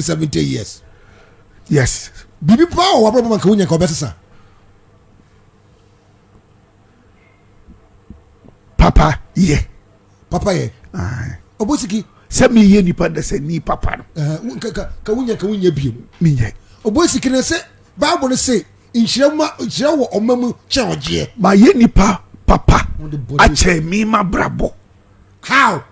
seventy years yes biribi paa wɔ w'abrabɔ ma nka wonya nka wɔbɛsesa papa yɛ papa yɛ ɔbɔsiki sɛ meyɛ nipa dɛ sɛ ni papa no ka wonya ka wonya biem menyɛ ɔbɔsiki no sɛ bible se nhyira ma nhyira wɔ ɔma mu kyɛ ɔgyeɛ mayɛ nipa papa akyɛ me ma brabɔ how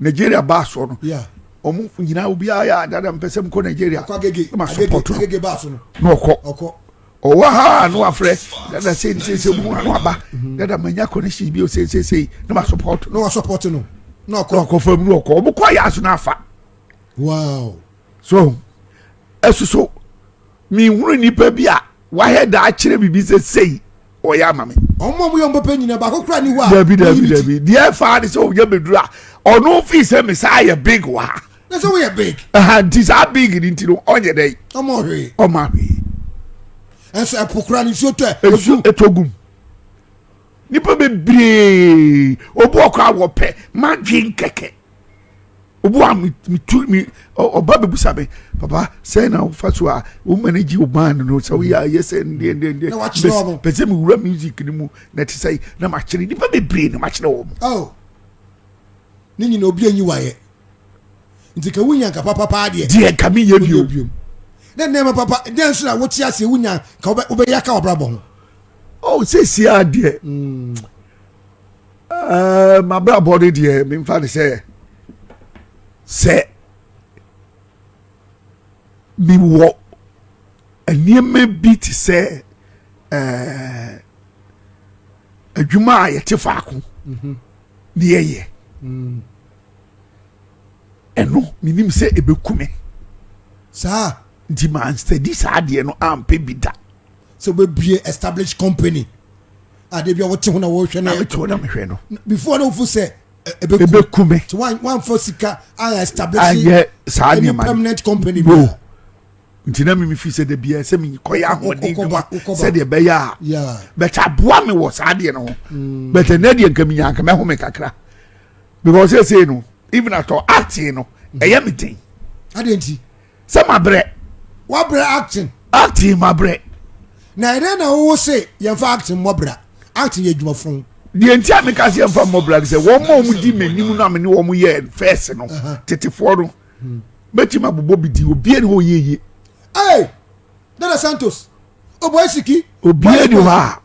nigeria baa soɔ no wɔn nyinaa obiara yɛ adada mpɛ sɛ mkɔ nigeria ma sɔpɔtɔ na ɔkɔ ɔwɔ ha no afrɛ dada sei ne seisei mu ano aba mhm. dada manya connection bi seisei na ma sɔpɔtɔ na wasɔpɔtɔ no na ɔkɔ ɔkɔ fam na ɔkɔ wɔn kɔ yɛ aso na afa wow so ɛsoso. Menhunu nnipa bi a wayɛ da akyerɛ biribi sɛ sei ɔyɛ ama me. Wɔn a wɔyɛ wɔn papa nyinaa baako kura ni hɔ a. Dabi dabi dabi deɛ ɛfa de sɛ ɔyɛ bɛduru a ɔno fi sɛ me saa yɛ big wɔ ha. Na sɛ woyɛ big. Ɛha nti saa big ni nti no ɔnyɛ dɛ. Ɔmɔ ahwee. Ɔmɔ ahwee. Ɛsɛ ɛpo kura ne nsuo tɔ ɛ. Nsuo ɛtɔ gum. Nipa bebree obu ɔkɔ awɔ pɛ madwin kɛkɛ. obu a metu me ɔba bɛbusa me papa sɛ na wofa so a wo manage wo band no sɛ woyɛ ayɛ sɛ ndeɛndeɛndeɛ pɛ sɛ mewura music no mu na ɛte sɛ na makyerɛ nnipa bebree na makyerɛ wɔ m ne nyina obi anyi wayɛ nti ka wonya nka papapaa deɛ deɛ nka meyɛ bio ne nneɛma papa dɛn so na wote aseɛ wonya ka wobɛyɛ ka wabrabɔ ho oh, sɛsiaa deɛ mm. Eh, m'abrabɔ no deɛ memfa ne sɛ sɛ mewɔ nneɛma bi te sɛ eh, adwuma a yɛte faako mhm. ne yɛyɛ mm. ɛno menim sɛ ɛbɛku me saa nti mansadi saa deɛ no ampɛ bi da sɛ wobɛbue established company a da bia wote ho na wɔhwɛ no mete ho na mehwɛ no before na wofo sɛ ɛbɛku me nti woamfa sika ayɛ establishayɛ saa nneɛma permanent company bi nti na meme firi sɛ da bia sɛ mekɔyɛ ahoɔden dwuma sɛdeɛ ɛbɛyɛ a bɛtɛ aboa me wɔ saa deɛ no ho mm. bɛtɛ na deɛ nka menya nka mɛho me kakra because ɛsei no even atɔ ate no ɛyɛ me den adeɛ nti sɛ mabrɛ wabrɛ acting acting mabrɛ na ɛdɛn na wowo se yɛmfa acting mmɔ bra acting yɛ adwuma fon deɛ nti a meka sɛ yɛmfa mmɔ bra sɛ wɔn ma wɔn di m'anim no a mene wɔn yɛ fɛs no tetefoɔ no mɛtumi abobɔ bi di obie ne hɔ yɛyie ee dada santos ɔbɔ asiki obie ne hɔ a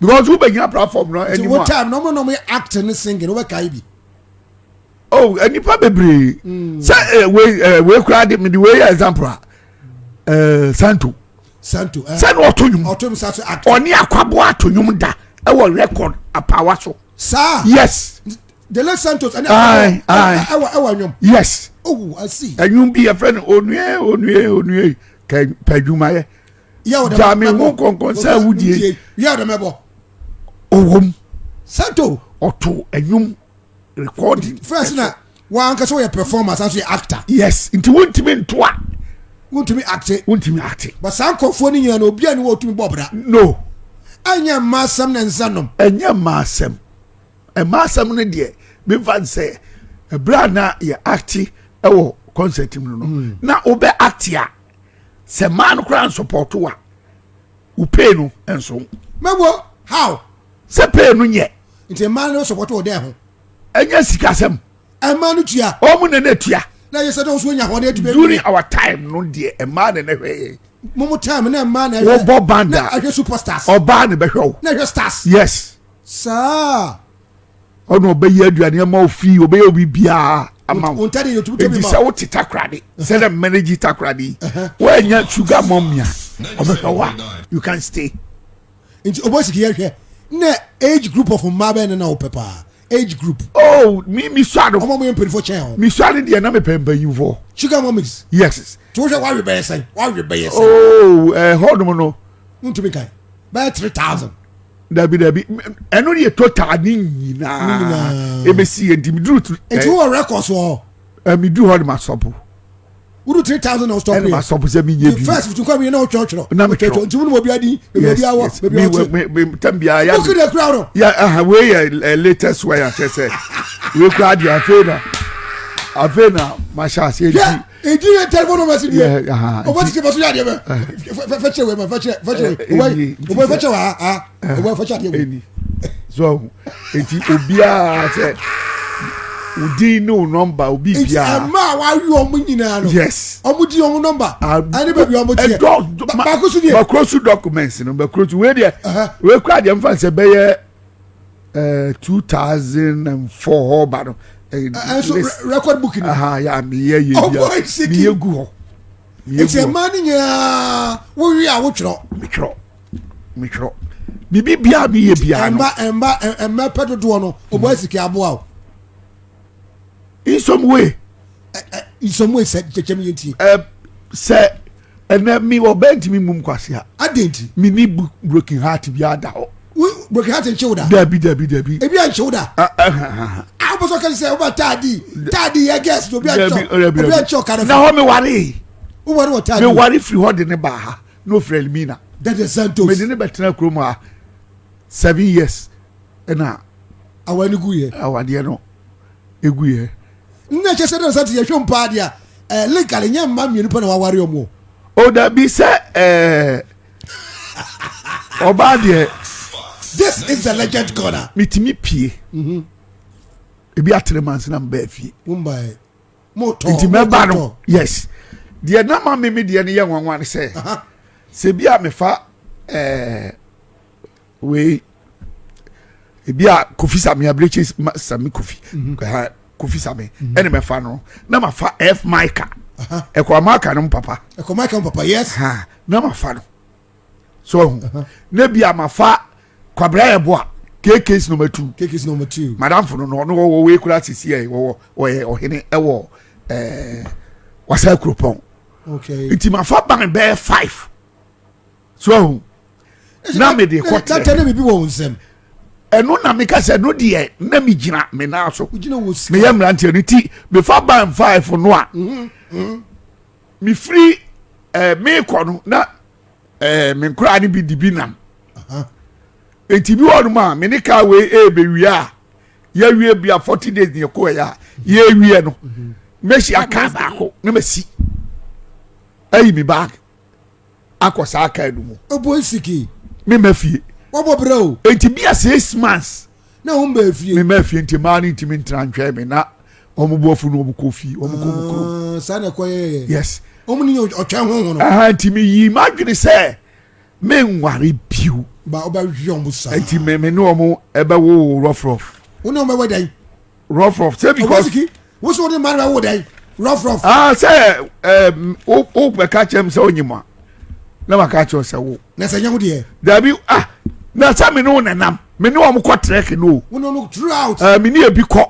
because wo bɛ gyina platform na ɛni mu a. ti wo time na ɔmo na ɔmo yɛ act ne singing wo bɛ ka yi bi. oh eh, nipa bebree hmm. sɛ eh, wei eh, wei kura de mi de wei yɛ example a ɛɛ santo. santo ɛɛ sani ɔto nyum ɔto nyum sanso act. ɔni akwabo ato nyum da ɛwɔ record apawa so. saa yes. the late santos ɛni akwabo ɛwɔ ɛwɔ nyum. yes. oh i see. ɛnyum bi yɛ fɛ no onue onue onue kɛ pɛ adwuma yɛ. gya me ho nkɔnkɔn sɛ awudie ɔwom santo ɔto ɛnwom recording first na wankasa wɔyɛ performance aso yɛ actor yes nti wontumi ntoa wontumi acte wontumi acte but saa nkɔfoɔ no nyina na obi a ne wɔtumi bɔ bra no ɛnyɛ mmaa asɛm na nsa nom ɛnyɛ mmaa asɛm mmaa asɛm no deɛ memfa n sɛ ɛberɛ a na yɛ acte ɛwɔ concert mu no mm. na wobɛ acte a sɛ mmaa no koraa nsɔpɔto a wo pay no nso. mɛwɔ how. sɛ pay no nyɛ. nti mmaa no sɔpɔto wɔ dɛ ho. ɛnyɛ sikasɛm. mmaa no tua. wɔn na na tua. na yɛ sɛ dɔnso nya hɔn adwuma. during our time no deɛ mmaa na na hwɛ yɛ. mumu time na mmaa na hwɛ. wɔbɔ banda. na ahwɛ superstars. ɔbaa na bɛhwɛ o. na hwɛ stars. yes. saa. ɔna ɔbɛyɛ aduane ama wo fii ɔbɛyɛ obi biara ama wo enti sɛ wote takorade sɛ dɛ mmanagyi takorade yi woanya sugar mɔmia ɔbɛhwɛ wo a you can stay nti ɔbɔ siki yɛhwɛ na age group of mmaa bɛyɛ ne na wopɛ paa age group. oh mi mi sua no. ọmọ mi yẹ mpanyinfo kyẹn o. mi sua no deɛ na mi pɛ mpanyinfo. sugar mummies. yes. tí wọ́n sọ wàá rí bẹ́yẹ sẹ́yìn wàá rí bẹ́yẹ sẹ́yìn. oh ẹ̀ họ́ nomu no. n tún mi ka bẹ́ẹ̀ three thousand. dabi dabi ɛno yɛ total ne nyinaa ebesi yɛ di mi duru tu. etu eh, wɔ records wɔ. Eh, mi duru hɔ de ma sɔpo. wúdu three thousand na ɔsɔpo yɛ ɛna ma sɔpo sɛ mi nye bi. first fitu nkɔ mi yɛ na ɔtwɛ ɔtwɛ na mi twɛ ɔtwɛ ntumu ni mo bi adi ebi ɔdi awɔ ebi ɔti. mi mi tɛm bi a ya mi. bukki de kura ɔrɔ. ya aha wei yɛ ɛ eh, latest way akyɛ sɛ wei kura adi afei na afei na ma hyɛ ase edi. edi yɛ telephone number si diɛ ɔbɛ sisi faso yɛ adiɛ bɛ fɛkyɛ wɛ ma fɛkyɛ fɛkyɛ ɔbɛ ɔbɛ fɛkyɛ wa ha ɔbɛ fɛkyɛ adiɛ wɛ. so eti obiara sɛ odi ne o nɔmba obi biara. eti ɛmɛ a w'awi ɔmo nyinaa no. yes ɔmo di ɔmo nɔmba. ɛni bɛbi ɔmo tiɛ baako su diɛ. bakuro su documents no bakuro su wei diɛ wei kura diɛ nfa nsɛ bɛyɛ. ɛɛ two thousand and four hɔ ba no. ɛnso record book ni. aha ya mi yɛ yɛ oh, bia mi yɛ gu hɔ. nti ɛmaa ne nyinaa wowie a wotwerɛ. metwerɛ metwerɛ biribi biara mi yɛ biara no. ɛmba ɛmba ɛmba pɛ dodoɔ no o bɔ esike aboa o. in some way. in some way sɛ kyɛkyɛm yɛ nti. sɛ Ɛnɛ me ɔbaa ntumi mmum kwasea. Adɛn nti? Me ni broken heart biara da hɔ. Wo broken heart nkye wo da? Dabi dabi dabi. Ebi a nkye wo da? Ah ah ah. ah. A wopɛ sɛ ɔka sɛ woba taadi taadi yɛ gɛs obi a nkye obi a nkye ɔka no. Na hɔ me ware. Wo ware wɔ taadi. Me ware firi hɔ de ne baa ha na ofiri Elmina. Dada Santos. Me de ne bɛtena kurom ha seven years. ɛna awa no guyɛ. awadeɛ no guyɛ. nna kyɛ sɛ dɛ sɛ te yɛhwɛ mpo adeɛ a ɛɛ legal nyɛ mma mmienu pɛ na waware ɔmo. o dabi sɛ ɛɛ ɔbaa deɛ. this is the legend corner. metumi pie. Mhm. ebi atere mansi na mbɛɛ fie. mo mbaɛ mo tɔ nti mɛba no yes deɛ nama mi mi deɛ no yɛ nwanwa no sɛ sɛ bi a mefa ɛɛ. wei ebi a kofi sami abirekyi sami kofi mhm. kofi sami mhm. ɛna mɛ fa no na ma fa f maika ɛkɔ amaika no mu papa ɛkɔ maika mu papa yes ha na ma fa no so ɔhu na bi a ma fa kwabra yɛ bo a kk's number two kk's number two madam funu no ɔno wɔwɔ wei kura sisi yɛ wɔwɔ ɔyɛ ɔhene ɛwɔ ɛɛ wasa kuropɔn okay nti ma fa ban bɛɛ five. so ahu na mede kɔ tẹ. tẹ ne bibi wɔ wɔn nsam. ɛno na meka sɛ no deɛ na mi gyina me nan so meyɛ mmeranteɛ no ti mefa ban five no a mhm, mhm. mefiri ɛɛ eh, meekɔ no na ɛɛ eh, me nkoraa no bi di bi nam nti bi wɔ nom a me ne kaa wei ɛɛbɛwie a yɛawie bi a forty days ne yɛkɔ ɛyɛ a yɛawie no mɛhyia mhm. kaa baako na masi ayi mi baag akɔ saa kaa no mu. Ebo nsiki. Me ma fie. Wɔbɔ brɛ o. Nti bi a six months. Na wɔn bɛ fie. Me ma fie nti maa ne ntumi ntena ntwɛn me na wɔn bu afunu wɔn kɔ fie wɔn kɔ mu kurom. Ah, saa na ɛkɔ yɛyɛ. Yes. Wɔn ni ɔtwɛn ho ho no. Aha nti mi yi ma adwene sɛ me nware biw. Ba ɔbɛ wi wɔn saa. Nti me me ne wɔn ɛbɛ wo rɔfrɔf. Wo ne wɔn bɛ wɛ dɛn. rough rough sɛ because. owó siki wosow ne mmaa na wo dɛ rough rough. aa ah, sɛ ɛɛ o o bɛ ka kyɛm sɛ o nyi mu a na ma ka kyɛw sɛ wo. na sɛ nyɛ wo deɛ. dabi ah na sɛ mi ni wo nenam mi ni wɔn kɔ trɛk no o. wọn n'o throughout. ɛɛ eh, mi ni ebi kɔ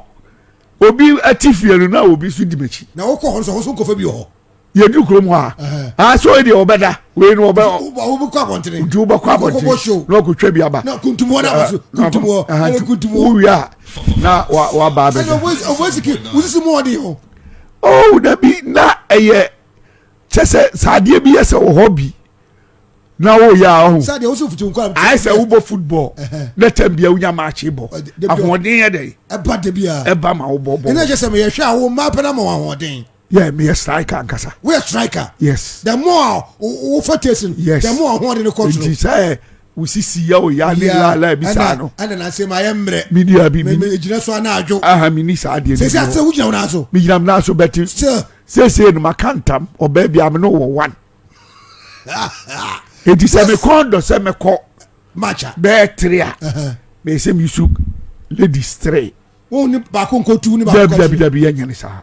obi ɛti fie no na obi so di m'akyi. na o kɔ hɔ nso o so nkɔfɛ bi wɔ hɔ. yɛduru kurom hɔ a asɛ ɔyi deɛ ɔbɛda wei no ɔbɛwobɛkɔ abɔntene nti wobɛkɔ abɔntene na ɔkɔtwa bi aba kuntumɔ no abaso kuntumɔ ɛne kuntumɔ wowie a na waba abɛda ɔbɛsiki wosisi mu ɔde hɔ oh dabi na ɛyɛ kyɛ sɛ sɛ adeɛ bi yɛ sɛ wɔ hɔ bi na woyɛ a ɔho ayɛ sɛ wobɔ football na tam bia wonya maakye bɔ ahoɔden yɛ dɛn ɛba ma wobɔbɔ ɛna kyɛ sɛ meyɛhwɛ a wo mmaa pɛ no ma wɔ ahoɔden Yeah, me a striker ankasa. We a striker. Yes. The more wo for tasting. Yes. The more ho de ne control. Nti sɛ wo sisi ya o ya ne la la bi sa no. Ɛna na se ma yɛ mmerɛ. Mi ni abi mi. Mi gyina so ana adwo. Aha mi ni saa deɛ. Sese ase wo gyina wo na so. Mi gyina mi na so bɛti. Still. Sese no ma ka ntam ɔbɛ bi amino wɔ one. Eti sɛ mi kɔn dɔ sɛ mi kɔ. Macha. Bɛɛ tiri a. Mɛ se mi su ladies three. Wo ni baako nkotu ni baako kɔtu. Dabi dabi dabi yɛ nyɛ ni saa.